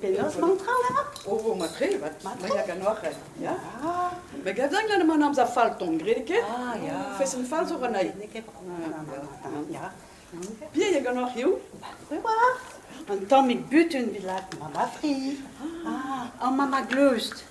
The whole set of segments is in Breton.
Penaos mont tra lâr? Oh, matre, vat, mei a ganoc'h, ya? Me gadan gant man amzer fall ton, gred ket? Ah, ya. Fesenn fall zo ranai. N'eo ket ya. Pier e ganoc'h hiziv? War, un tammig butun bilak, ma matri. Ah, an mama gleust.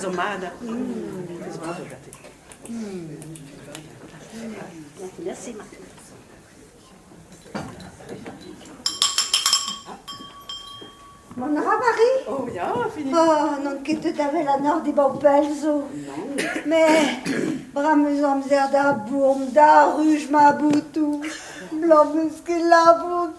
Zo mat da... Zo mat gante. Merci, Martin. Mon Ramari Oh ya, fini Oh, non ket tout avel an ord e baupel zo. Mais, bra meus amzer da bourm, da ruj ma boutou. Blam eus ket labour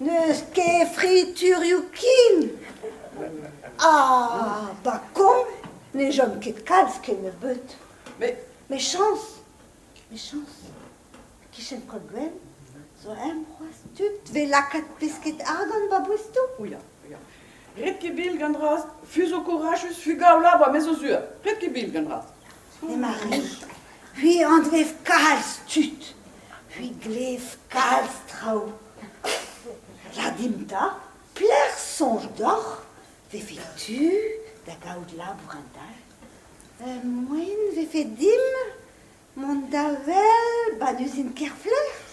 N'eus ket friturioù ken. Ah, ba koñ ne chom ket kalz kennebeut. Mechañs, mechañs. Kichen Kolguen zo eñ c'hoazh tud 'vez lakaet pesked argant ba boestoù. O ya, ya. Ret ket bil gant raz, fus ho kourachus, fugaola ba me zo sur. Ret ket bil gant raz. Emañ re. C'hwi anvev kalz tud. C'hwi glev kalz traoù. Rar dimp 'ta, pelec'h soñj deoc'h vefe tu da gaout labour an dall? moen vefe dimp mont da wel 'ba n'eus int ket lec'h.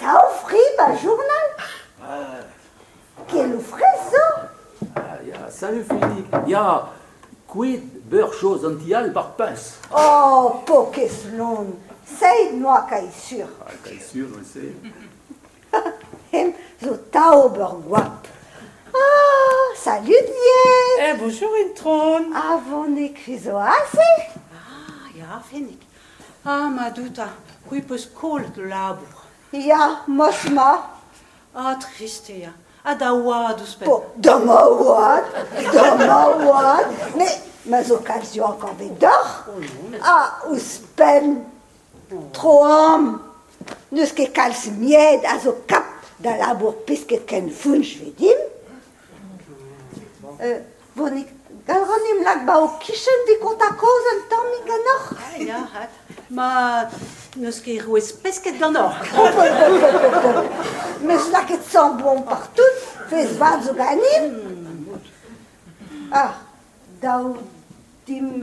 Daou fri ba journal Keloù fraezh zo Ya, salut Freddy Ya, kuit beur chose an ti all par piñs Oh, pokez lon Seit noa kae sur Ah, kae sur se Hem zo ta ober goap Ah, salut lies Eh, bonjour Intron Ah, vonek zo aze Ah, ya, fenek Ah, Madou 'ta, c'hwi 'peus kollet ho labour. Ya, mos 'ma. Ah, triste ya. Ha da oad ouzhpenn. Po, da ma oad, da ma oad. Mais ma zo kalz yoank anvet doc'h. Ah, ouzhpenn. Troam. N'eus ket kalz mied a zo kap da labour pesked ken founch 'vez dimp. Vonig, gall ganimp lak 'ba ho kichen dit kontañ kaoz un tammig ganeoc'h. Ah ya, hat. Ma n'eus ket rouez pesked ganeoc'h. Mes lakaet sañ boan partout, fez vat zo ganimp. Ah, dav dimp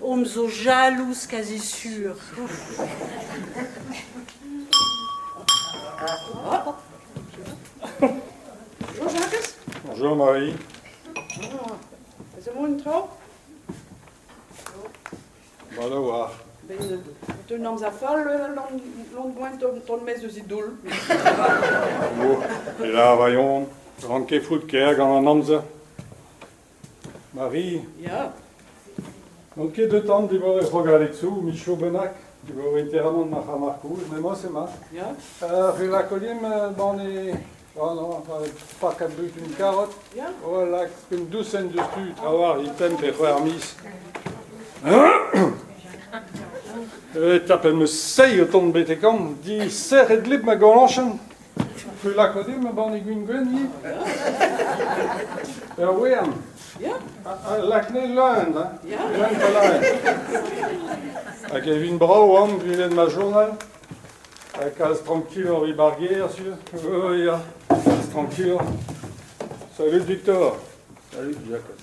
Omp zo jalouz kazi sur. Bonjour Jean-Marcus. Bonjour Marie. Is er morgen tro? Voilà war. Ben, tu nam za fall l'on boent ton mes eus idol. E la vaillon, ranke fout ker gant an amzer. Mari Ya N'on ket deut an diwar e c'hrogaletsoù, michoù bennak, diwar interamant ma c'ha markouz, m'emañ ema. Ya Uh, re lakolium uh, ban e oh non, uh, pakad butun karot Ya Oh, lak un dousenn diouzh tu, trawalc'h, il temp e c'hwec'h miz. E tapet 'm eus seizh o tont betek an, disec'het lip ma golañchenn. Tu lakaat dit ma banne gwin-gwenn ivez Ur wern Ya, Lakne leun, hein ya, leun palaen Hag e vin brav am gwelet ma journal Ha kalz tranquil oc'h ar gêr, sur Oh ya, kalz tranquil Salut, Victor Salut, Jakez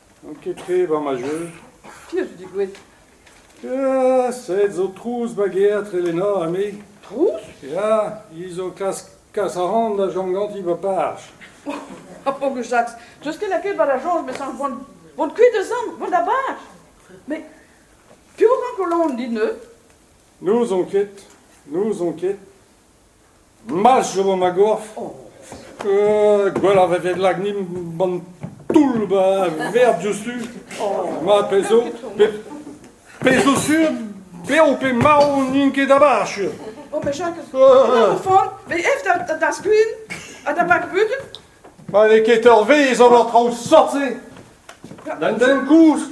N'on ket tre war ma jeu. Piv zo digouez? Ya, sed zo trouz bageat re Lena ha me. Trouz? Ya, hi zo klask kas a-ran da chom ganti ba parch. Ha Pogou Jacques, deus ket lakaet war ar soñj, mes vont, vont kuit eus amp, vont da barch. Mais piv ranko laon dit neuze? N'ouzon ket, n'ouzon ket. Ma'z chom ma gorf, gwelloc'h e vez lagnimp an toull vert diouzhtu, ma pezh zo, pezh zo sur, bev pe marv n'int ket da bar sur. Oh, mais Jacques, fort, mais ef da skuin ha da bakbud Ma n'eo ket ur vezh ober traoù sort-se. D'un den koust,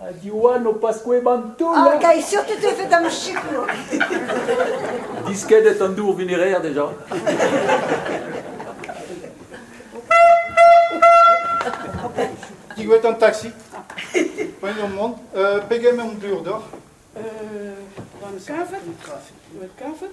Ha Diwan o paskoe b'an toull! Ah, gay, surtout e fait am sikour! Diskedet an dour vineraer deja. Diwet an taxi. Poagn an mont. Uh, pegement blur d'oc'h? Uh, 20 kavet. 20 kavet.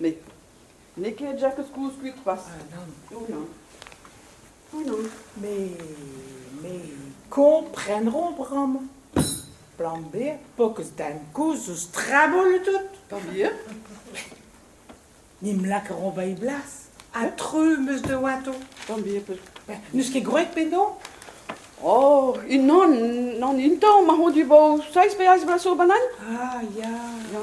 Met n'eo ket Jakez kouskuit pas. Ounan. Ounan. Me... me kompreneront bremañ. Plan B, po keus den kouzh eus traboul tout. Plan B? Ni m'lakaroñ bei blas. Ha tru meus de oato. Plan B, peut. N'eus ket gwreg penaos? Oh, unan, nan un tamm, ma hon dibo seizh pe eizh bloaz zo banan? Ah, ya. Ya.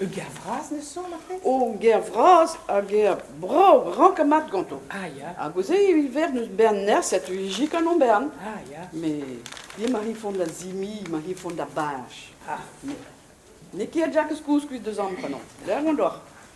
Ur ger vras ne son ar pezh? O, ger vras ha ger brav, rank ha mat ganto. Ah ya. Hag o se evit ver n'eus bern nerzh setu hijik an Ombern. Ah ya. Mais bien ma rifont da zimi, ma rifont da beñch. Ah, n'eo ket Jakez kouskuit deus an prenant. Lec'h on doc'h.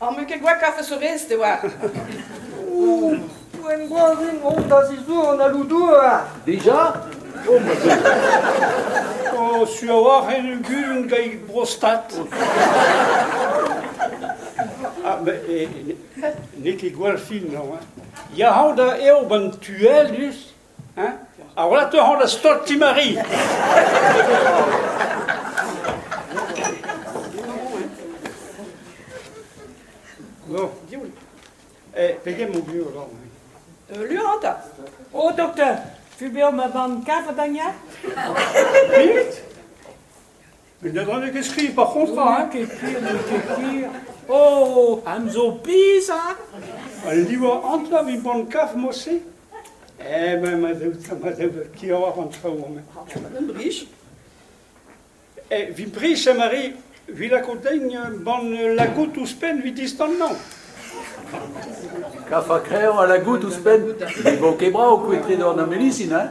Am eus ket gwall kafe sourez de oar. Ouh, en groazin mont da zizour an aloudouar. Deja? O, ma zeu. Oh, su a-walc'h en un guzun gant brostat. Ah, mais eh, n'eo ket gwall fin, non, hein? Ya hao da eo ban tuel, just? Ar wlatou a ran da stol Ti-Mari. Bon. Eh, pegen mon vieux alors euh, Lur ta. Oh, docteur, vu beoc'h ma barn kalz da Mut Un debraneg eskriv par contre, hein Ket hir, n'eo ket hir. Oh, am zo biz, hein Al livour antañ mi ban kaf mod-se Eh ben, ma dev, ma dev kiaouar an traoù-mañ. Un brich. Eh, vi brich, eh, Mari, vi lako dein ban la gout ouzhpenn vi distannañ. Kaf ha kreñv ha la gout ouzhpenn. Ne vo ket brav kouetred an amelisin, hein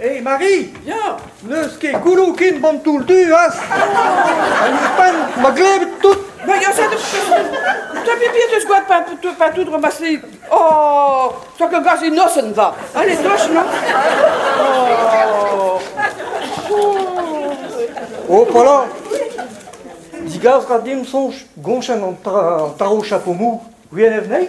Hé Mari, ya, n'eus ket goulou ken ban toull du az Hag ouzhpenn, ma glevit tout Ma ya set Te pipi deus gwad pa, pa tout remasli Oh, tak a gas inosen va Allez, doch, non Oh, pala Digas ra dim soñj gonchenn an taro chapo mou Gwienn evnei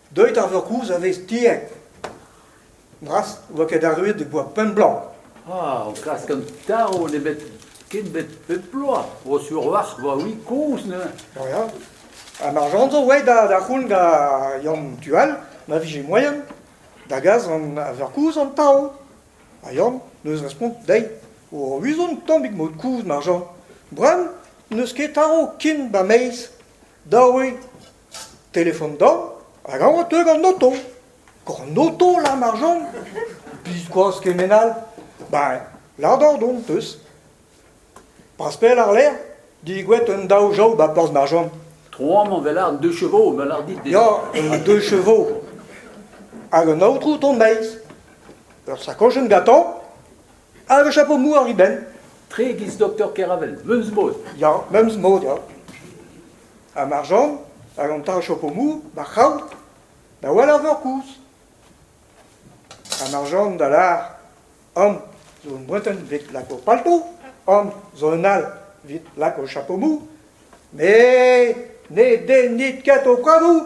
Deuit ar verkouz a vez tiek. Bras oa ket arruet e boa pemp bloaz. Ah, o klask an tarv n'eo bet ket bet pep bloaz. Vo sur warc'h vo-hi kozh neuze. Oh ya. Ha mar jan zo oe da, da c'houn da Yann Tual, ma vije moaien, da gas an a verkouz an tarv. Ha Yann n'eus respont dezhi. O uzon tammig mod kouz, mar jan. Bran n'eus ket tarv ken ba meiz. Daouit, telefon dezhañ hag a oa teuet gant oto. Gant oto lam ar Jeanne ? Biskoazh kement all ! Ben, ladoc'h on 'peus. Pas pell àr-lerc'h, digouet un daou jav 'ba plas Marjean. Tro amañ 'vel àr deux chevaux, me lâr dit. Ya, e deux chevaux. Hag un aotrou 'ton 'maez. Ur sakochenn gantañ Hag a chapo mouar he benn. Tre e-giz doktor Keravel, meumz-mod. Ya, meumz-mod, ya. Ha marjant, hag an ta a chapo mou, ma c'hraou, da wall ar veur kouz. Ha marjant da lar, An zo un breuten vit lako palto, an zo un all vit lako chapo mou, me ne dennit ket ho kadou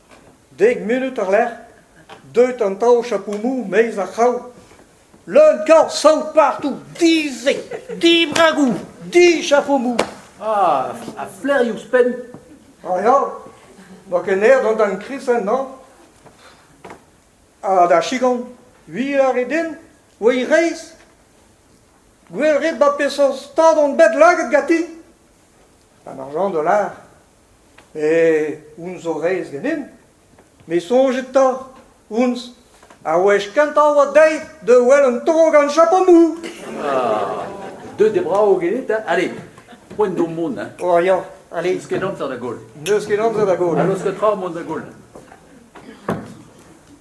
Dek munud war-lerc'h, deut an taol chapoumou 'maez ar c'hraou. Leun korz saout partout, di-se, dibragou, dichapoumou. Ah, ha flec'h ouzhpenn ? Ah ya, 'ba ken aer d'an darn kristen hañ. Ha da chigon, wir a rit din, oe reizh ? Gwell rit 'ba peseurt stad on bet laget ganti ? An argant a lâr. Eh, uns zo reizh ganin. Me soñjet 'ta, uns, a wech kentañ oa dezhi da wel un tro gant Japonou. Ah, deuet e brav genit, hein? Allez, poent d'ho mont, hein? Oh ya, allez. N'eus ket amzer da goll. N'eus ket amzer da goll. Ha laosk tra mont da goll.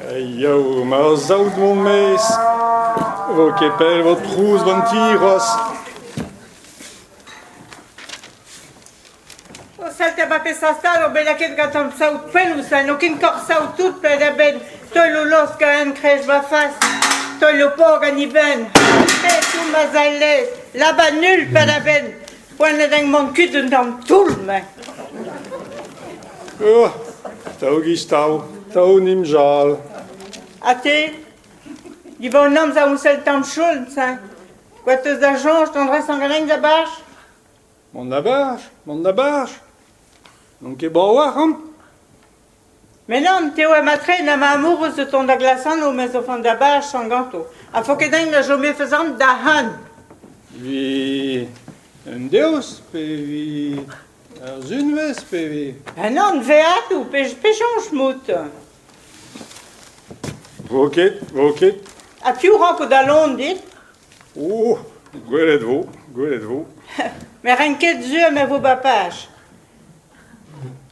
Jau, mar saout mon maez, vo ket pell vo trouz van ti c'hoazh. O salta ba pe sastal o bet lakaet gatant saout fellus ha n'o ken kor saout tout pet a-benn teul o losk a enkrez va fas, teul o pog an ibenn. Pe tout ma zallez, laba nul pet a-benn. Poa ne mank ket un tamm toull-mañ. Ur, Tao Gistau, Tao Nimjal. Ha te? Diban amzer on sell tamm choulz, hein? Quoi teus da chañs d'an dresañ galegn da bach? Mont da bach, mont da bach. N'on ket brav ac'h an? Me nann, te oa matre na ma amourous o tont da glasano me zo vont da bachañ ganto, ha faot ket din a chomi feuzan da han. Vi un devezh pe vi ur sunvezh pe vi... Ha nann, veadoù, pechañs mout? Vo ket, vo ket. Ha piv ranko dalon dit? O, gwelet vo, gwelet vo. Me renk ket sur me vo ba paj.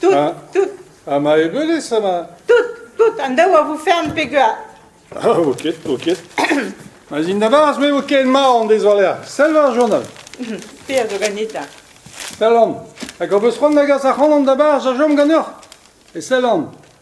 Tout, Ha ma ebeulez ama? tout, tout, an daou a vo fern pegear. Ah, oket, oket. Ma zin da barz me vo ken mar an dez war Sell war journal. Te a zo ganita. Sellan. Hag hor beus c'hoant da gas ac'hanon da barz a chom ganeoc'h. E sellan.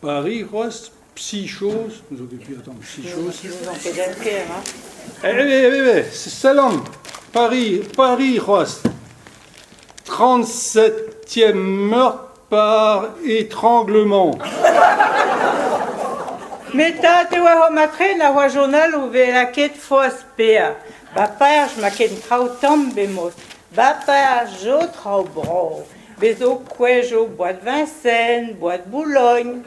Pariz c'hoazh, Psichos, n'eus ket piv atav Psichos. N'on ket ker, hein? Eh, eh, eh, c'est Salam Paris, Paris c'hoazh 37e meurtre par étranglement. Meta te oa ho matre na oa journal o vez lakaet foaz pea. Ba paer ma ken traoù tamm bemod. Va perzh zo traoù brav, bez' zo kouezh zo boad Vincennes, boad Boulogn,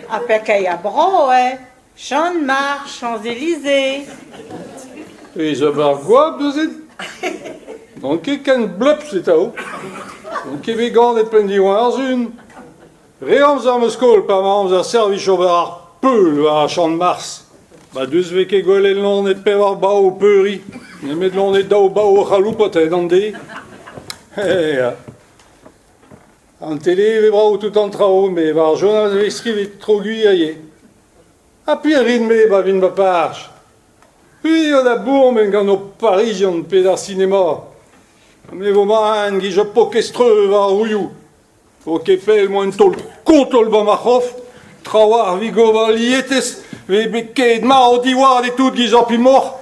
ha pekeier broet, Chanmarch, Champs-Élysées. Pezh ober goap neuze ? N'on ket ken blepz eta n'on ket bet ganet penn-diwar-zun. Re amzer 'm eus skol pa oa amzer servij ober ar peul war ar Champ-de-Mars. Ma deus vez ket gwelet loned pevar bav o peuriñ, nemet loned daou bav o c'haloupat a-hed an de. Ya. An tele e vez brav tout an traoù, met war ar journal e vez skrivet tro-gwir ivez. Ha pir rin-me pa vin ma parch. C'hwi eo da bourmen gant ho Parizion pe d'ar sinema. Me vo maen 'giz ur pokez-treu war ar roioù. O kefel moa un taol kontol va ma c'hof, tra oa ar vigova lietez vez bet ket mat diwar e tout giz api moc'h.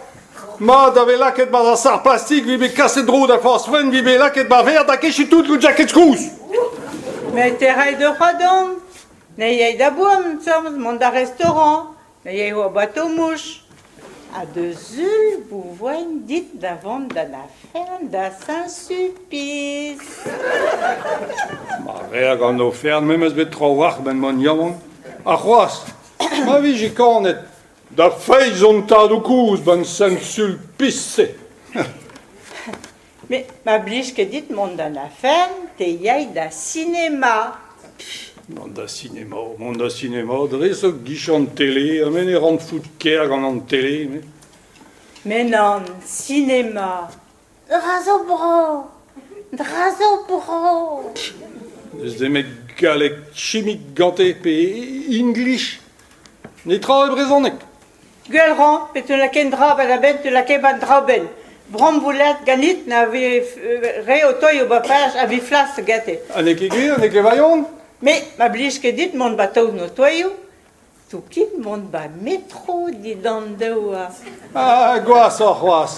Mat da vez lakaet ba ar sar plastik vez bet kaset dro da forzh fun vez bet lakaet ba verr da kechiñ tout gant jaket kouz. Met e ray da c'hoadan, ne yay da boan seurt mont da restaurant, Me eo ho bato-mouch ha da zul bo voen dit da vont d'an ofern da Saint-Sulpiz. Ma rea gant ofern memes bet trawalc'h ben mont yaouank. Ha c'hoazh, ma vije kanet da feiz hon tadoù kozh 'ban Saint-Sulpiz-se. Me 'ma blij ket dit mont d'an afer, te yay da sinema. Mont da sinema, mont da sinema dre zo 'gijan tele, ha me ne ran fout ker gant an tele, me. Me nann, sinema. Dra zo bro, dra zo bro. N'eus nemet galleg chimik gante pe english. Netra e brezhoneg. Gwell 'rañ pe te lakain dra 'ba da benn, te lakaim an draoù-benn. Brañvoulad ganit na vez re o toiñ o bapaj a viflas gete. Ha n'eo ket gwir, n'eo ket virionez? Me, ma blij ket dit mont 'ba taol notoioù, to kin mont 'ba metro dindan douar. Ah, gwashoc'h c'hoazh!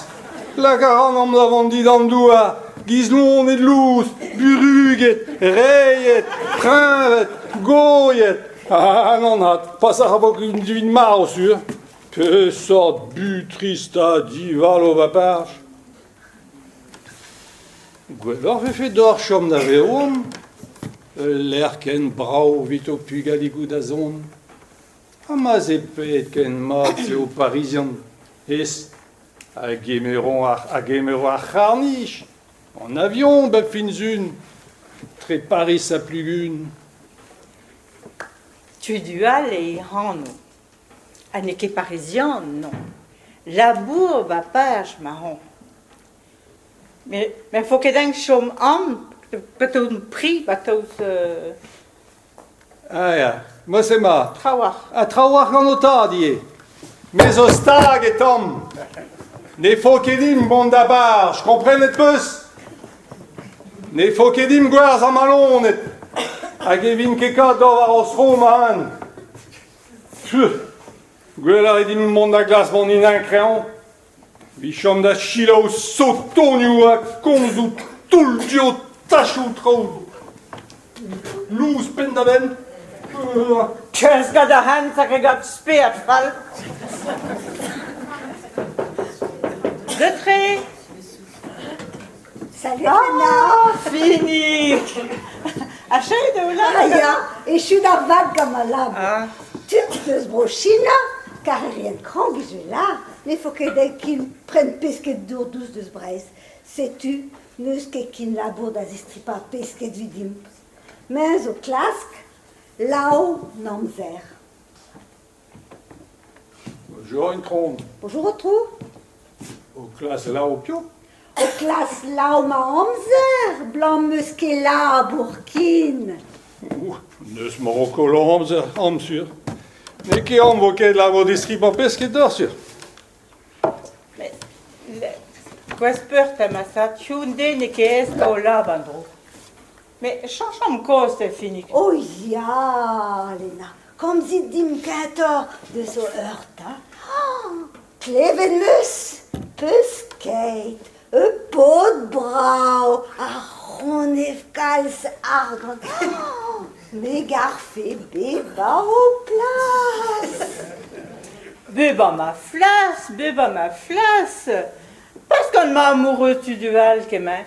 Laka rannomp da vont dindan douar, gizloned lous, buruget, reiet, preñved, goiet. Ah, anat, pas a ra ken din marv sur. Peseurt butrist ha divalo baparch. Gwelloc'h vefe deoc'h chom da veron, ul lec'h ken brav evit ho pugaligoù da zont. Ha ma e pet ken mat se ho Parizian. Es, a gemero ar, a gemero ar c'harnich, En avion, ba Finzun, tre Pariz ha Pluvun. Tudual eo e anv. Ha n'eo ket parizian, non. Labour ba paj ma anv. Me ne vo ket eñ chom am, pa 'teu prix, ba 'teu Ah ya, moas ema. Trawalc'h. Ha trawalc'h gant ho tad ivez. Me zo stag e tamm. Ne fo ket dimp mont da barz, komprenet peus? Ne fo ket dimp gwerz amalonet. Hag e vin ket kat dor war hos fro ma an. Pff, gwell a rit dimp mont da glas mont in kreñv. Emichomp da selaou sotonioù ha komzoù toull-dioù tachoù traoù lous penn-da-benn. Euh, Keuz gant ar hent hag e gab spered fall. De tre Salut Ah, Finig Achei da oulan Ah, ya, echu da vad gant ma lab. Ah. Tud deus Bro-China, karreriet krank eus e lar, ne fo ket dezhe kin prenn pesked dour dous deus Breizh. Setu, n'eus ket kin labour da zistripañ pesked vidimp. Me zo klask, lao n'amzer. Bonjour, Intron. Bonjour, Aotrou. O klas laou piou? O klas laou ma amzer, 'blam 'meus ket labour ken. Ouh, n'eus moroko laou amzer, am sur. N'eo ket am vo ket labour distri ba pesked d'ar sur. Gwez peurt ha ma sa tiou n'e ket ez o lab an dro. Me chañchomp kozh da Finig. O ya, Lena, komzit dimp kentoc'h deus ho eur 'ta. Klevet 'meus peuskeit, ur paotr brav, ar c'honef kalz argant. Me garfe bevañ ho plas. Bevañ ma flas, bevañ ma flas. Peus gant ma amoureux tu du all kement?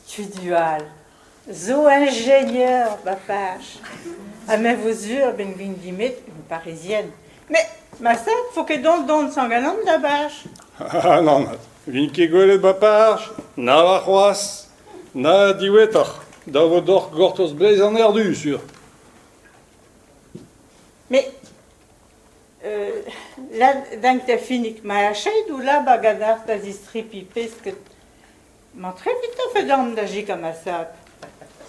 Studio all zo ingénieur ma page. Ha me vo sur ben vint dimet une parisienne. Mais ma sat, faut que don don san galant da bach. Ah non, vin ket gwelet ba parch, na warc'hoaz, na diwetoc'h, da vo doc'h gortoz bleiz an erdu, sur. Mais euh, là, dingue t'as fini que ma achète ou là, bagadar t'as istripi pesket Mantret dit-tu d'an da jikamasat?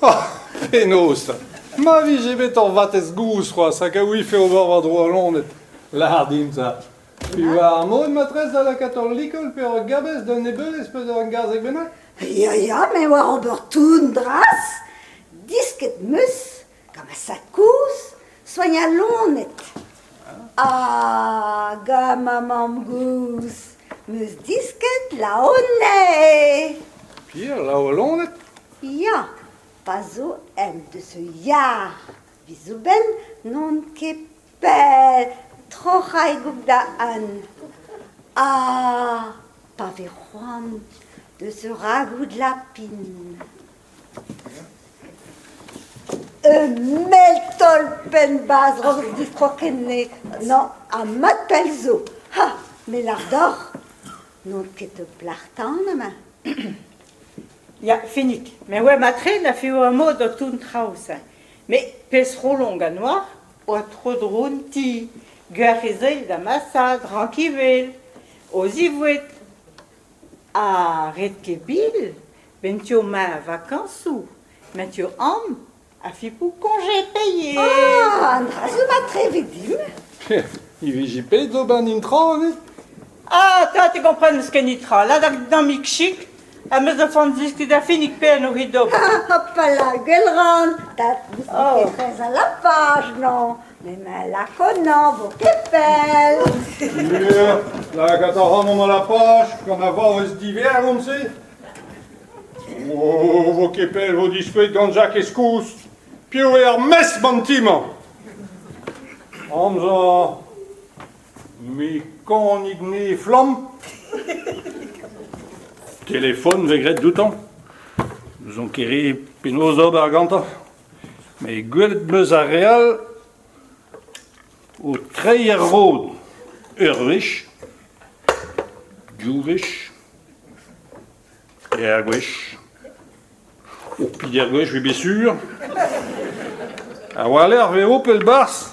Ah, fenoz! Ma vije bet ur vatezh-gouz c'hoazh hag a ouife ober war-dro al loned. Lâr din ça. War ar mod matrez da lakaat ur likol pe ur gabez d'un nebeulez pe ur gazeg bennak? Ya, ya, me oar ober tout dras. Disket 'm eus Gant ma sad-kozh, soignaloned. Ah, gant ma mamm-gozh 'meus disket laonenn. Ya, laoloned. Ya, pa zo en deus ul yar, 'vit zoubenn n'on ket pell, troc'haigok da un. Ah, pa vez c'hoant deus ur ragoud lapin. Un mell-tolpenn-bazrog distro ken-se nañ ha mat pell zo ha me lâr deoc'h n'on ket o plac'h tan amañ. Ya, finik. Me oa matre na fivo amod o toun traoù-se. Me pezh-c'holoñ gant oar oa tro-dron ti. Gwec'h ez ae da masaat rankivell o zivoued. Ha ret ket bil, 'benn tu ma vakañsoù, 'mañ tu amañ ha fipoù koñje paeet. Ah! An dra-se mat tre evit dimp. I vije bet d'ober an intra ivez. Ah, 'ta, te gompren n'eus ket netra. Ladach da'mik chik, ha m'eus da font ziskis da finik pe en orin d'ober. Ah, hopala, gwell ran. 'ta, n'ouzon ket trezh al lapage, non. Me ma lakonañ 'vo ket pell. Ie, lakaat a ran an alapaj gant a varvez divergont-se. Oh, 'vo ket pell 'vo dispouet gant Jakez kouzh. Piv eo ar mesk an ti-mañ? Amzer, mikonik-ni flamm. Telefon 'vez graet doutañ. N'ouzon ket re penaos ober gantañ. met gwelet 'm eus ar re all o treiñ er rod ur wech, div wech, treir gwech, ho pevar gwech 'vet bet sur. A-walc'h eo pell 'barzh.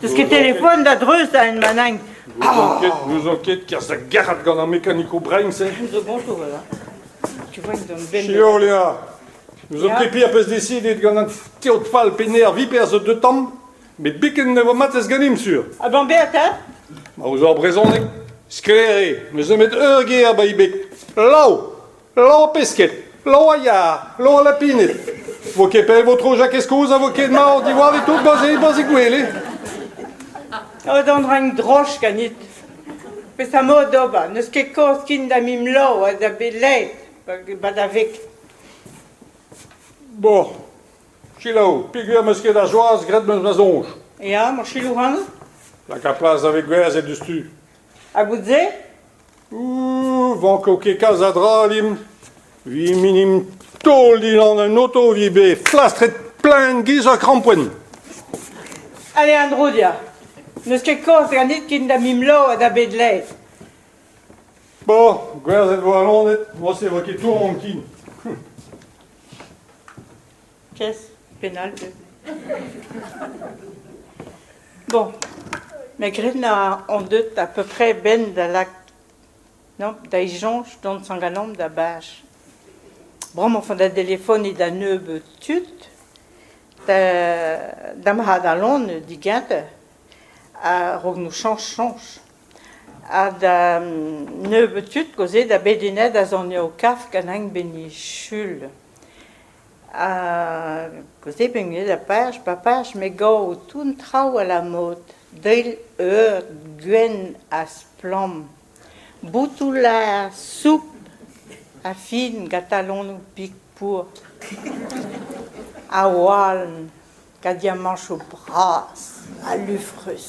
Teus ket telefon da dreuz da Enmanagn N'ouzon ket kerzh da garet gant ar mekanikoù brein-se. Tu vois, Siolea, n'ouzon ket piv peus desidet gant an teod fall pe nervi perzh zo deux tamm, met biken ne vo matez ganimp sur. Ha ben berr ta Ma ouzh hor brezhoneg, sklaer eo, ne zeu met ur ger ba Ibek. Lau Lañpesked, loaia, loalapined. Vo ket pell vo tro Jakez kozh a vo ket mat diwar e tout baze, baze gwele. O d'an rang droch ganit. Pesa mod d'ober, n'eus ket koz kin da mim lo ha da bet led, ba da vek. Bon, selaou, peger meus ket ar joaz graet meus ma soñj. Ya, ma silou hano? Lak ar plas da vek gwerzhet diouzh tu. Ha bout-se? Vanko ket kalz a dra dimp. Vi minim taol Dylan en oto vi bet flastret plaen giz ha krampoen. Allez, Andro, dia. N'eus ket kaoz ganit ken da mim lao ha da bet laet. Bo, gwerzhet vo alonet, moa se vo ket tour an kin. pièce pénale de... Bon, mais gren a on deut à peu près ben da lak non da e soñj dont sanganomp da bash. Bremañ font da delefoniñ da nebeud tud, da da mahadalon digante a-raok nou chañch soñj. Ha da nebeud tud koze da bet unet a zone o kaf ganin ben e Sul. Koulskoude peogwir eo dapaeus papaeus me gav tout an traoù abalamour d'eil eur gwenn ha splann, boutoù laer, soupl ha fin gant talonoù pik pour ha oaln gant diamanchoù bras ha lufrus.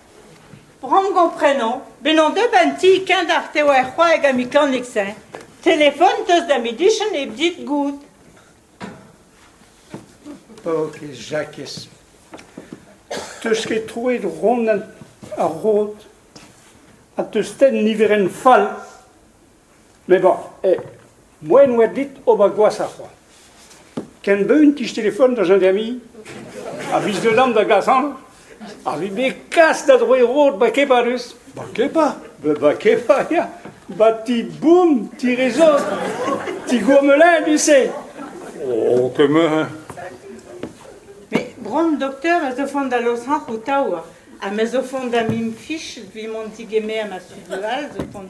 Bramm gomprenañ bezañ deuet an ti-keñver eo ar c'hoaeg amikanix-eñ. Telefon 'teus da medisin hep dit goût. Ok, Jakez. 'Teus ket troet Ronan ar Rod ha 'teus tenn niverenn fall. Me ba, eh, moaien oa dit ober gwashoc'h oa. Ken beun tich telefon da gendarmerie, a biz deulamp da gasan, a vi bet kas da droe rod ba kepa deus. Ba kepa? Ba, ba kepa, ya. Ba ti boum, ti rezo, ti gourmelin, tu sais. Oh, kemerin. Mais bron doktor ez o font da losrac'h o taou. Ha me zo font da mim fich vi mon tigemer ma studio all zo font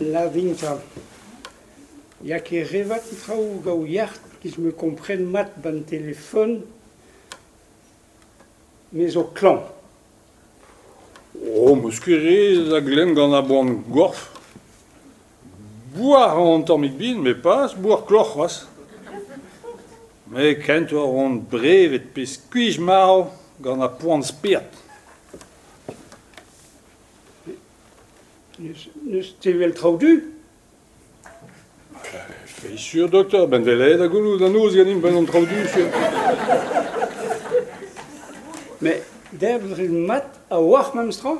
Lavinta. Ya ket re vat an traoù gaou yac'h, giz me kompren mat ba'n telefon, me zo klañv. Oh, 'meus ket re a glemm gant ar boan-gorf. Boar a ran tammig bin, met pas boar kloc'h c'hoazh. Met kent oa ran brevet pe skuizh-marv gant ar poan spered. N'eus tevel traoù du ? Feiz sur, doktor, ben delaet ha goulout an noz ganimp gant an traoù du sur. Met debret mat a-walc'h memes tra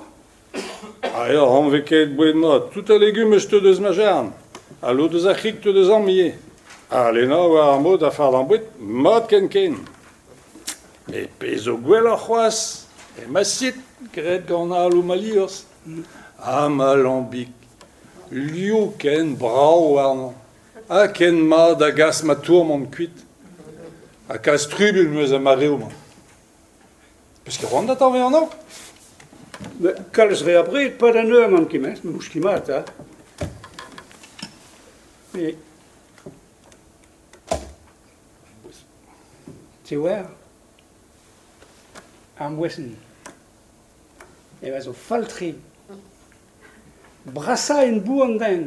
Ha eo anvekaet boued-mat. Tout a legume eus te deus ma jarn. Ha lod eus ar c'hig te deus am ivez. Ha Lena a oa ar mod a fardañ boued mat ken ken. Met pezh zo gwelloc'h c'hoazh, emasit graet gant aloù ma liorzh ha ma lambig. Liv ken brav warnañ ha ken mat a gas ma tourmant kuit. Ha kalz trubl em eus er mareoù-mañ. Peus ket c'hoant atav vezañ anv ? Kalz re abred, pad an eur n'on ket mes, mouch ket mat, ha. Me. Tewer ar moesenn eo a zo fall-tre. Brasañ en-bu an den.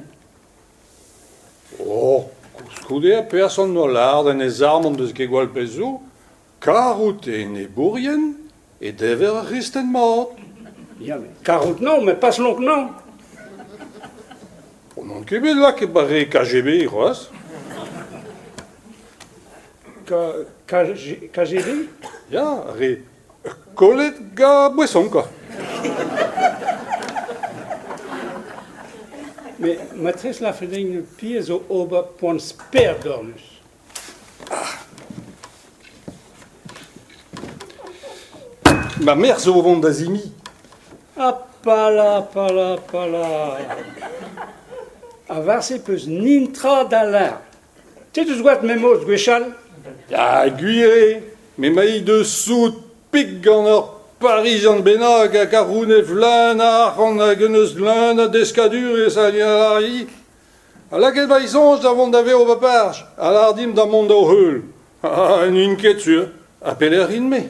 Oh, koulskoude, perzh an holl ard en e zarm en deus ket gwall pezh zo. Kar out e enebourien E dever ar c'hristen mat Ya, met karout naon, met pas lonk naon. On n'en ket bet lakaet bare KGB c'hoazh K- KG- KGB Ya, ar re kollet ga boeson quoi. Mais matrice Lafening, le pire, zo ober poan sper dornus. Ma merc'h zo o vont da zimi. Ha pala, pala, pala. Avat-se peus nintra da leñ. Te deus gwad memoz gwechall? Ya, gwir eo. Me mailh deus soud pik gant ur Parizan bennak hag a roune vleun a arc'hant hag un eus leun a deskadurezh hag a Ha lakaet va soñj da vont da vev va barj a lâr dimp da mont d'o heul. Ha n'int ket sur. Ha pelec'h int-me ?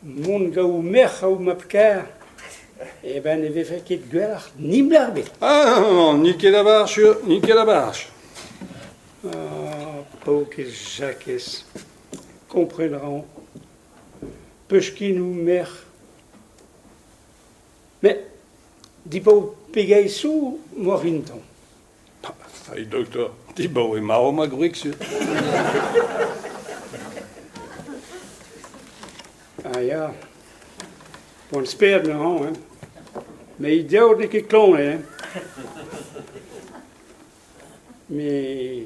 Mont gaou merc'h ho mab-kaer. Eben ne vefe ket gwelloc'h nimbl ebet. Ah, n'it ket a barj sur, n'it ket a barj. Ah, paourkaezh Jakez, kompren a ran. Peuchkinoù, merc'h. met dibaoe pegeit zo moa vinton Salut doktor, dibaoe ma eo ma gwreg sur. Ah ya, bon sper neuze, hein. Mais il dit n'es ket klon, hein. Mais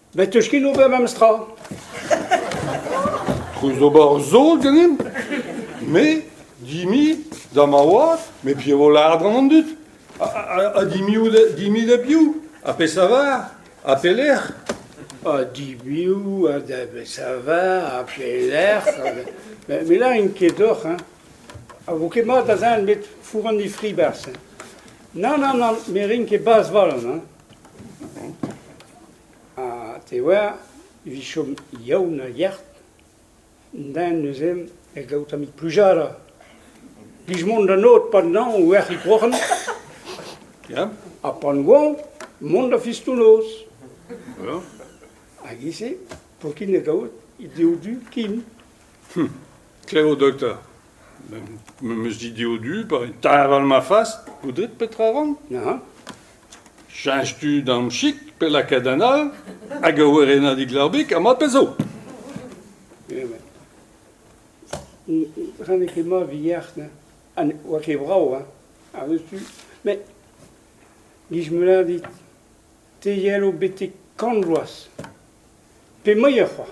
Bet 'teus ket ober memes tra? Treuz d'ober zo ganin? Me, dimi, da ma oad, me piv vo lâret gant an dud? Ha, ha, ha dimiou da, dimi da piv? Ha pe savar? Ha pelec'h? Ha dibiou ha da besavar ha pelec'h? Me me lârin ket deoc'h, hein. A vo ket mat da zan met four an difri 'barzh, hein. Nann, nann, nann, me rin ket bazh 'valon, hein. Ha te oar, evit chom yaoun ha yac'h, den neuze ne gav tamm plujada. Plij mont d'an ot pa nañv o erc'hiñ kroc'hen. Ya. Ha pan oañ, mont da fistonoz. Voilà. Hag e-se, paotr-kin ne gavot, he dev du kin. Klevo, dokter. Me meus dit eo du pa teñval ma fas, poudred petra ran neuze cheñch tu d'am chik pe lakaat an all hag ur werenadig larbig ha ma pezo. Ren ket ma vier, ne. Ha ne oa ket brav, hein. Ar tu. Mais, gij meulin dit, te yelo betek kant bloaz. Pe moier c'hoaz.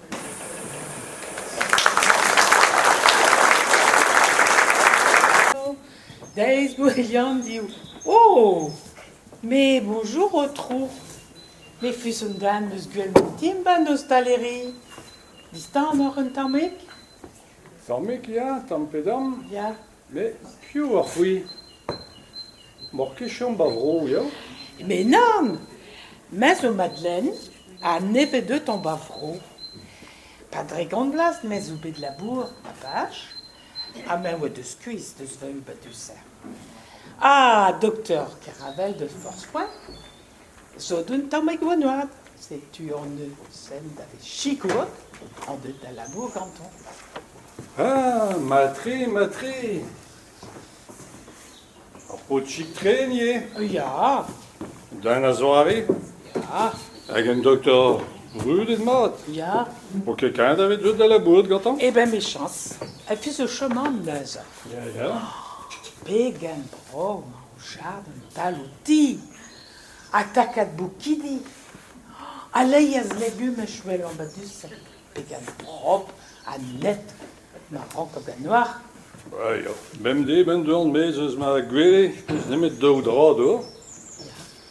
Deiz Gwilham div. O! Me bonjour, Aotrou. Me fuss un den eus gwell an timban ostaleri. Distanoc'h un tammig? Tammig, ya, tamm pe damm. Ya, Met piv oc'h c'hwi ? M'oc'h ket chom ba vro ya ? Me nann ! Me zo Madeleine ha ne vez deuet-hañ ba vro. Pa dre gant vloaz me zo bet labouret ba Vach ha me oa deus skuizh deus va ub a deuser. Ah, doktor Keravel deus Porzh-Fouen. Zo d'un tammig gwenoad, setu hon-eus hent da sikour ha da labour gantoñ. Ah, mat-tre, mat-tre! Ur paotrig-tre, ivez? Ya. Den a-zoare? Ya. Hag un doktor brudet-mat? Ya. Ho ket kanet aveit deut da labourat gantañ? Eh ben mechañs. A-fis eus choman neuze. Ya, ya. Pegen bremañ. Kouchat an tal o ti, ha takad boukidi, ha leiz legumaj well ambadusel, pegan prop ha net ma rankot en oar. Ah ya, bemdez 'benn dorn 'maez eus ma gwele, n'eus nemet daou dra d'ober. Ya.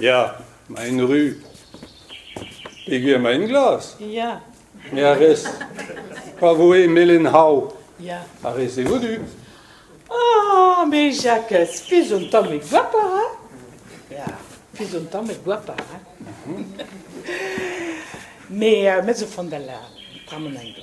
Ya, maen ru. Peger maen glas? Ya. Me a rez pa voe melen hav. Ya. A rez-se vodu? Ah, mais Jacques, fais un temps me guapar, hein? Ya, fais un temps me guapar, hein? Mais euh, mets au fond de la, prends mon angle.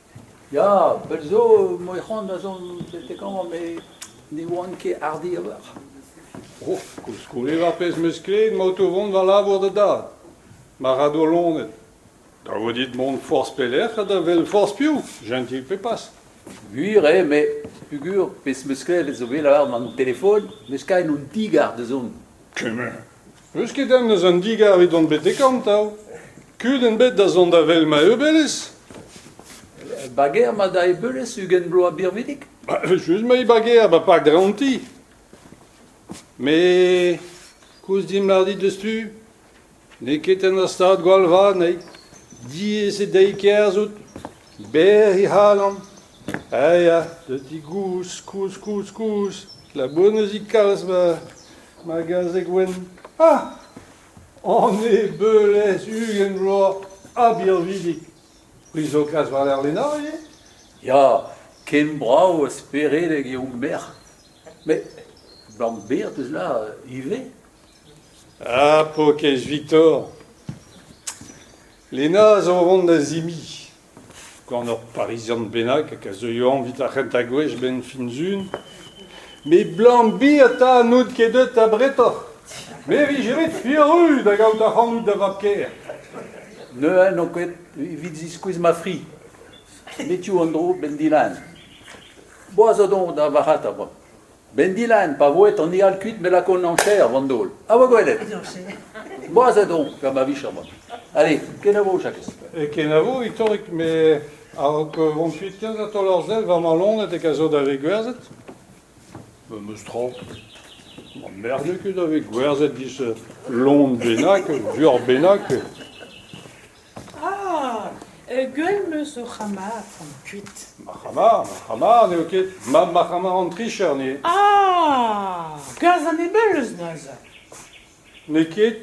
Ya, pell zo emañ e c'hoant da zont betek amañ met ne oan ket hardi a-walc'h. Oh, koulskoude war pezh 'm eus klevet emaout o vont va labour da dad. Ma ra doa-lonet. Da vo dit mont forzh pelec'h ha da wel forzh piv, jentil pe pas. Gwir eo met peogwir pezh 'm eus klevet zo bet lavaret an telefon 'm eus kavet un ti-gar da zont. Kement. N'eus ket den eus an digar evit bet dekorn 'ta Kudenn bet da zont da wel ma eubelez Bager ma da eubelez ugent bloaz birvidik Ba just ma e bager ba pak draonti Me koulz dimp lar dit deus tu N'eo ket en ur stad gwall vat nei Diaes eo dezhi kerzhout Berr he c'halon Ha ya, da di gozh kozh kozh kozh Labonezik kalz ma ma gazeg wenn ah! Anne Beulez ugent vloaz ha birvidik. Prizokas war-lerc'h Lena ivez ? Ya, ken brav ha speredek eo hon merc'h. Met Lambert eus là ivez. Ah, pokez Viktor ! Lena zo o vont da zimiñ. gant ur Parizian bennak a zeuio añvit ar c'hentañ gwech 'benn fin Sun. Met Blambiata n'out ket deut abretoc'h. Me 'vije bet furus da gaout ac'hanout da vab-kaer. Ne n'on ket evit ziskouez ma fri. Met tu an dro 'benn Dilan. Boaz zo doñ da varc'hata 'ba. Ben Dylan, pa voe an eal kuit me lakaont en chaer vandaol. Ha va gwelet! Boazet on gant ma vicher mat. Allez, kenavo, Jakez. E kenavo, Itorik, me a-raok vont kuit ken da taol ar sell war ma lonet a zo da vez gwerzet. Memes tra. Ma merde ket da vez gwerzet dizh lon bennak, ur buoc'h bennak. Ah ! Gell 'm eus ho c'hama gant kuit. Ma c'hama ? Ma c'hama n'eo ket. Ma ma c'hama an tricher n'eo. Ah ! Gaz ha nebel eus neuze. N'eo ket.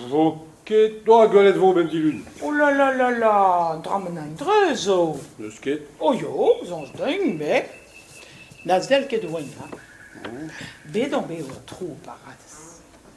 Vo ket. Doa gwelet 'vo 'benn dilun. Oh la la la la, dramen an dreuz zo. N'eus ket. Oh yo, soñj deomp, me. Na sell ket 'oen, ha. Bet on bet ho tro, Paradez.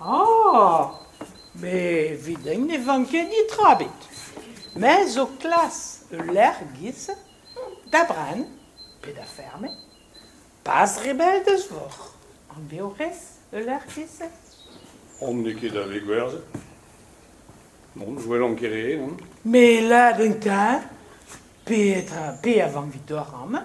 Ah ! met 'vit eñ ne van ket netra 'bet. Me zo klas ul lec'h 'giz da brenn pe da ferme. Pas re bell deus voc'h. An deorez ul lec'h 'giz se ? On n'eo ket da vez gwerzhet. Non, je welan ket re, non. Met 'lat un teñv, petra, pe a van 'vit doar amañ.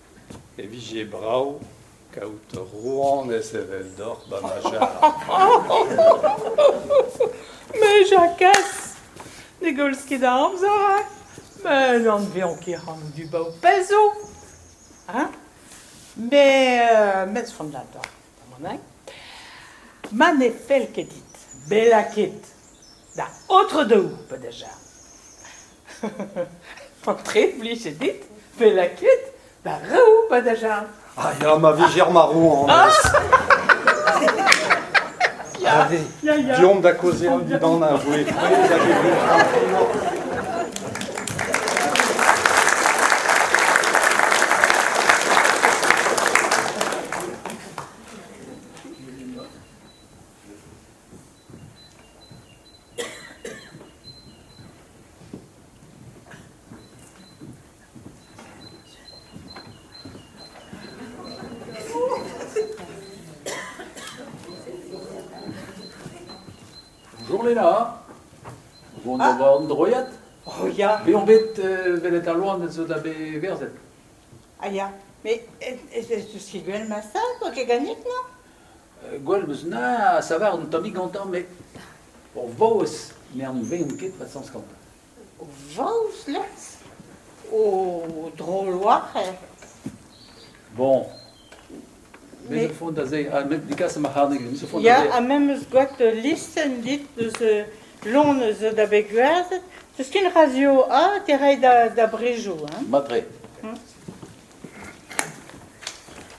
e vije brav kaout rouanez eveldoc'h ba ma jarr. Me Jakez, ne gollz ket da amzer hein? Me n'anvean ket c'hanout dibaoe pezh zo. Hein? Me, euh, met son ador, damaneg. Ma ne fell ket dit bella ket da aotre dehou, pe deja. Paotred, blijet dit bet lakaet da roù va dajarn. Ah ya, ma vijer ma ro anez. Diomp da kozeal dindan a voe prez hag e Bonjour Lela. Bon ah. an droiad. Oh ya. Me on bet euh, velet al loan zo da be verzet. Ah ya. Mais ez eus gwen ma sa, quoi que gagnit, non gwall eus na a savar un tammig gantañ, met o vaouez, me an veont ket, va sañs gantañ. O vaouez les O droloarez Bon. Me zo font da se, ha me digas ma c'harneg, me zo font da se. Ya, ha me 'm eus gwad listenn dit eus Lon zo da bet gwerzhet. Teus ken radio A te ray da, da Brejo, hein? Mat-tre.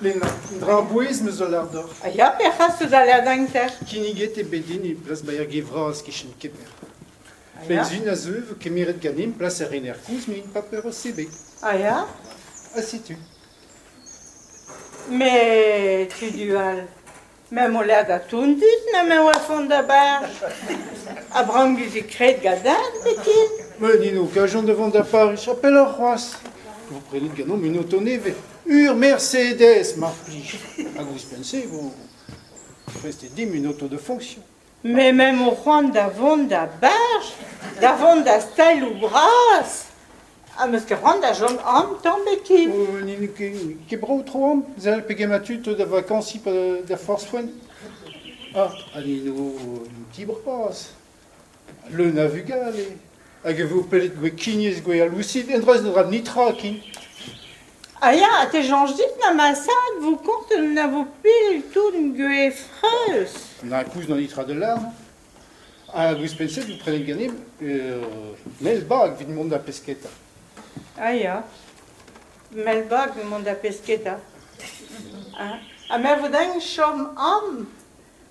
Lena, dra a-bouez 'm eus a lar deoc'h. A ya perc'has eus al lerdañter? Kinniget eo bet din e plas baer Ge Vras e-kichen Keper. Pell-zu a zeu 'vo kemeret ganin plas er rener koulz m'int paper o sebek. A ya? Ha setu. Me tri du all. Meump o lakaat ton dit na me oa vont d'abar. Abramgus e kred gadarn biken. Met ni n'ho kajont da vont da Pariz a-pelloc'h c'hoazh. Vo prenet ganeomp un oto nevez. Ur Mercedes, mar plij. Hag ouzhpenn-se e vo prestet dimp un oto de fonction. Me 'mañ o c'hoant da vont da beñch, da vont da staeloù bras, ha 'meus ket c'hoant da chom aon tamm ket. Oh, n'int ket, ket brav tro an. Sell pegement tud 'zo da vakañsiñ pa da forzh foenn. Ah, ha ni 'no un ti bras, leun a vugale. Hag e vo pellet gwekiniezh gwealousit endra ne ra netra ken. Ah ya, te soñj dit na ma sad vo kontet na vo pell tout gwefreus. Na koulz na netra da lâr. Hag ouzhpenn-se, vous prenez ganem, euh, Melbag vit mont da pesketa. Ah ya, Melbag mont da pesketa. Ah, ha me vo dañ chom am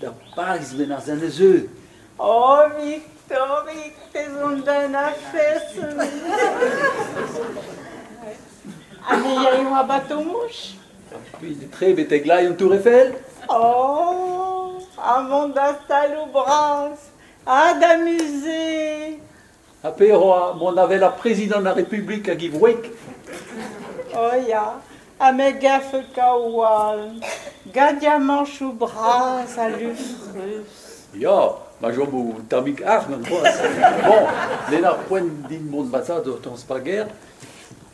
Da Bariz, bennarzh, en deus eu. Oh, Victorig, pezh on da en afes. Anezhi e oa batomouch? Tre betek lai an Tour Eiffel? Oh, avant da saloù bras ha da musée. Ha pe oa mont avel ar prezidant ar Republik hag e wreg? O oh, ya, ha me gafe kaoù all, gadiamañchoù bras ha lufrus. Ya, ma chom o tammig arc'h gant boaz. Bon, len ar poent din mont bazaat o tañs pager.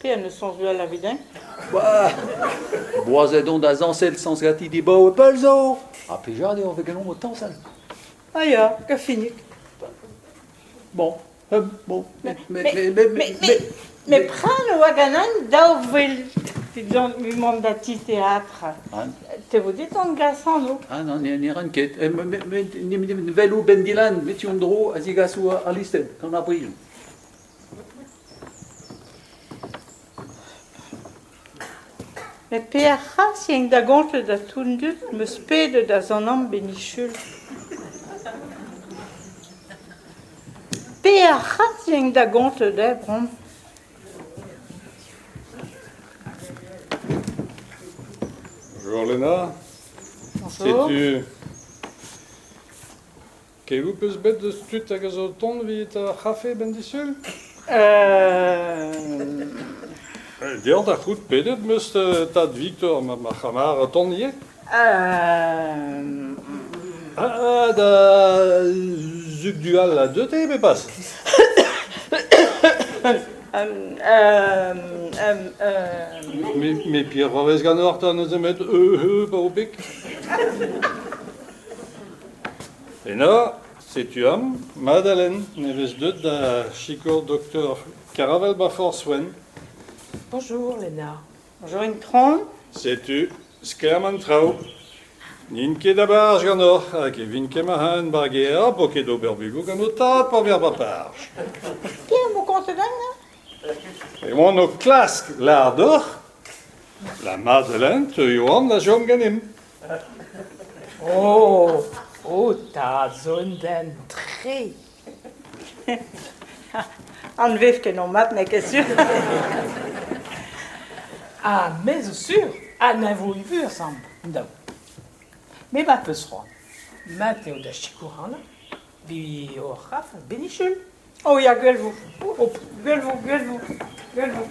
Pe en deus soñjoù all evit eñ ? Boazet on da zañsal sañs ganti dibaoe pell zo. Ha plija dezhañ vez ganeomp o tañsal. Ah ya, gafinik. Bon, euh, bon. Mais, mais, prêt le waganang daou vil, dit-on, mont da ti théâtre. An Te vo dit an gas anv Ah non, ne, ne ran ket. Eh, me- me- me- ne- ne- Vel ou Ben Dylan, met tu an dro a zigaso ar listenn gant ar brilhoù. Met Pear c'hras int da gontell da tou'n dud 'meus pedet da zanam benichul. Pear c'hras int da gontell da brom. Bonjour Lena. Setu... Kevoù peus bet deus tud hag a zo o tont evit ar c'hafe ben disul? Euh... Deoc'h da c'hoût pedet meus tad Viktor ma, ma c'hamar o tont ivez. Da zug du all a deu te pe pas? Me Pierre a vez ganeoc'h ta neuze met eu pa o pik. Eno, setu am, Madalen, ne vez deut da sikour doktor Karavel ba Forzh Wenn. Bonjour, Lena. Bonjour Intron. Setu sklaer an traoù. N'int ket a-barzh ganeoc'h, hag e vin kemmañ bar ger, bo ket ober bugoù gant ho tad pa ver baparch. Ken mo kontet an E oan o klask lar doc'h, la Madeleine teuio an a chom ganin. Oh, o tad zo un den tre Anvev ket o mat, n'eo ket sur. ah, me zo sur. Ha ne vo vu ensemble, daou. Me ma peus c'hoant. Mat eo da sikour an vi o c'haf benichul. Oh ya, gwell vo. Oh, gwell vo, gwell vo, gwell vo.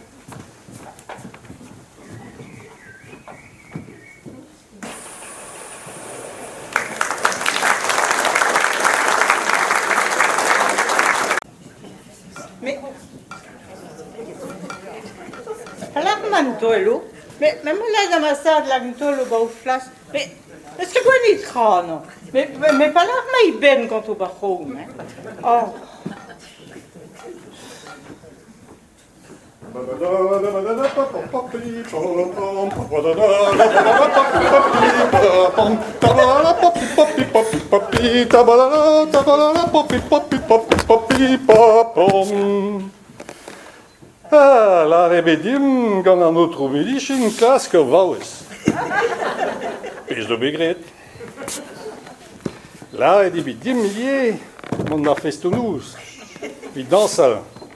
Me... Lec'h ma an tolo, me me mo lez amasad lag an tolo ba o flas, me eus ket gweli tra no. Me me pa lec'h ma i benn gant o ba c'hom, eh. Oh. Ah, lâret eo dimp gant an aotrou Milichin klask ur vaouez. Pezh zo bet graet. Lâret eo bet dimp ivez mont d'ar festoù-noz, evit dañsal.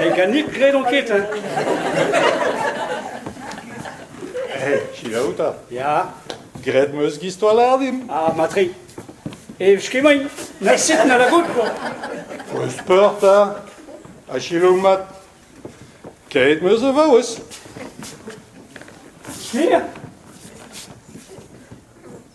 Mekanik gredon ket, hein. Hé, selaou 'ta. Ya, Graet 'm eus gistoallar dimp. ah, matre. E skemaint, naset na la goutt, quoi. Peus peur 'ta? Ha selaou mat. Kaet 'm eus e vaouez. Ker?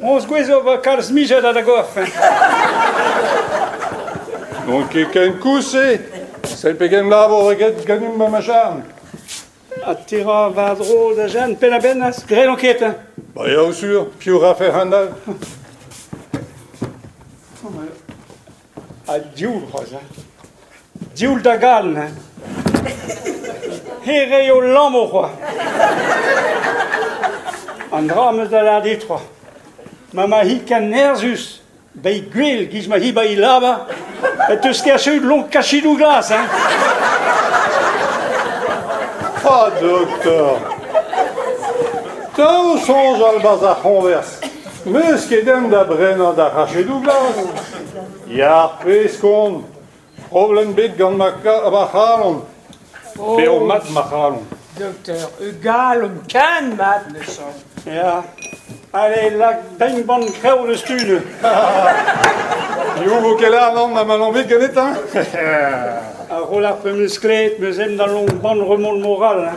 Hon zgouez zo va kalz mijet ha da gorf. N'on ket ken kouse. Sell pegen labour eget ganimp ma macharn. Ha te ra war-dro da Jeanne penn-a-benn az grelañ ket, hein? Ba eo sur, piv rafe hon all? Ha div c'hoazh hein, div da gall hein, hêrezh ho lammo c'hoazh. An dra 'm eus da lâret dit c'hoazh, ma ma hi ken nerzhus, bei gwell 'giz ma hi ba he lavar, e teus kaset lon kachidoù glas hein. Ah, doktor! Dav soñjal 'barzh ar c'hoñvers. Meus ket en da brenañ da c'hachedoù glas. Ya, pezh kon. Problem bet gant ma, ka- ma c'halon. Bev mat ma c'halon. Dokter, e galon ken mat ne chom. Ya. Allez, lak pegn bann krev deus tud. Yoù vo ket anan ha ma n'on bet ganet, hein? A ro ar pemeus klet, meus em da long bann remont moral. hein.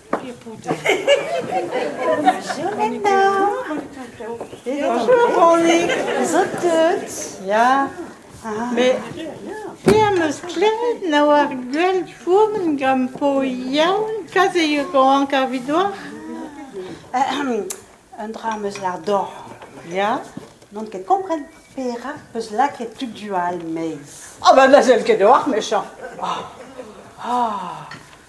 Zo teut, ya. Mais pe am eus klevet na oar gwell fourmen gant po yaoun, kaze eo rank ar vidoar? Un dra am eus lar dor. Ya? N'on ket kompren perak peus lakaet tud du all meiz. Ah oh, ben na sell ket d'oar, mechañ. Ah, ah.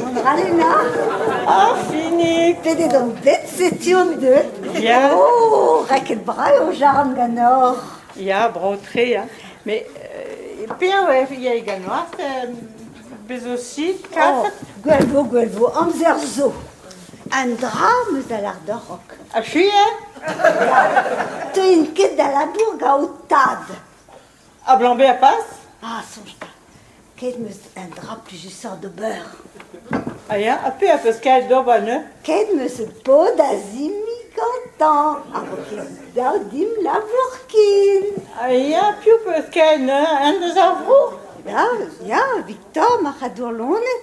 Mont a ra Lena? Ah, fini! Pedet on bet, setu on deuet. Bien. Oh, raket brav o jarn ganeoc'h. Ya, bro-tre, hein. Mais euh, pev il y a également Bez aussi, kaset oh, Gwelvo, Gwelvo, amzer zo. Un dra meus a lar d'ur rock. A suis, hein? Te int ket da labour gaout tad. Ablañs bezañ pas Ah, soñj 'ta. Kaet 'meus un dra plijusoc'h d'ober. A ya? Ha pe a peus kaet d'ober neuze? Kaet 'meus ur paotr da simiñ gantañ. A vo ket dav dimp labour ken. A ya? Piv 'peus kaet neuze? Un deus ar vro? Ya, ya, Victor, marc'hadour loened.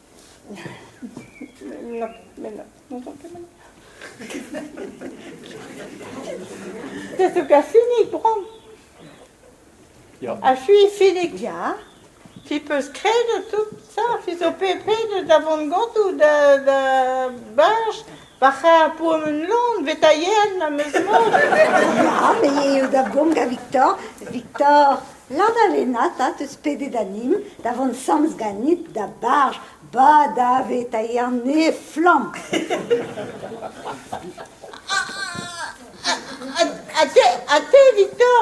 Te zo ka finig bron. Ya. Achu finig ya. Tu peus kredet tout ça, tu zo pepred da vont gotoù da da bash Pa c'har pourmen lan vetaillet am eus mont. Ya, me eo da gont gant Victor. Victor, lan a lennat, ha teus pedet anin da vont samz ganit da barj ba da vetaillet an ne flamm. Ha te, ha te, Victor,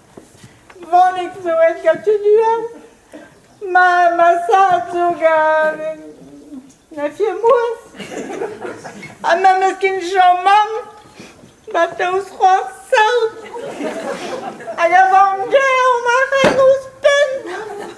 Monik zo gal tunuell. Ma ma zad zo gant na firmoez. Ha ma meus ken Jean-Mam ba daoust c'hoazh saout. Hag a vank gaer ma c'hell ouzhpenn.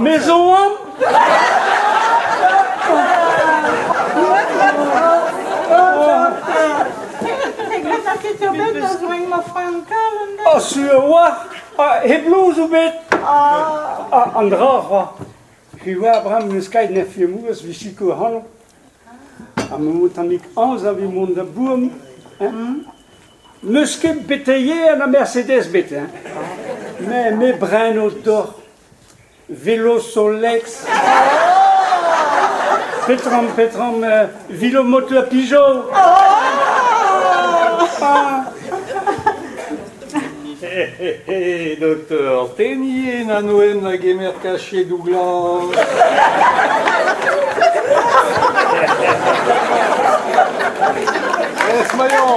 Me zo oan Oh, sur oa, heb louz ou bet An dra c'hoa He oa bram ne skait ne fiemouez vi sikour hano Ha mamm tammig aoz a vez mont da bourm hein ? N'eus ket beteier na Mercedes bet hein ? Me, me breno deoc'h Velosolex. Petrom, petrom, euh, Vilomot le Pigeot. Ah Doktor, tenniñ en anoen a gemer kachedoù glas. Ez maillon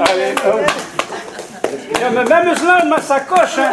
Allez, hop. Ja, mais même là, ma sacoche, hein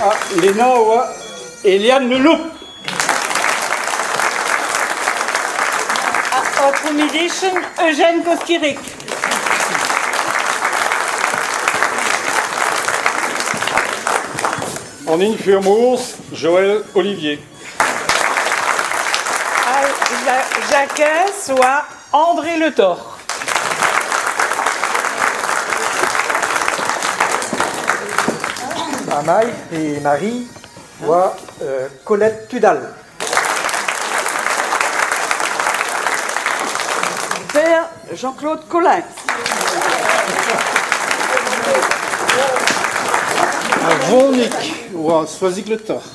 Ha Lena a oa Eliane Le Loup. Our accommodation Eugène Koskirik. En infirmos, Joël Olivier. Jakez oa André Le Thor. Amaï et Marie oa euh, Colette Tudal. Père Jean-Claude Collin. Ar vonik oa Soazig Le Thor.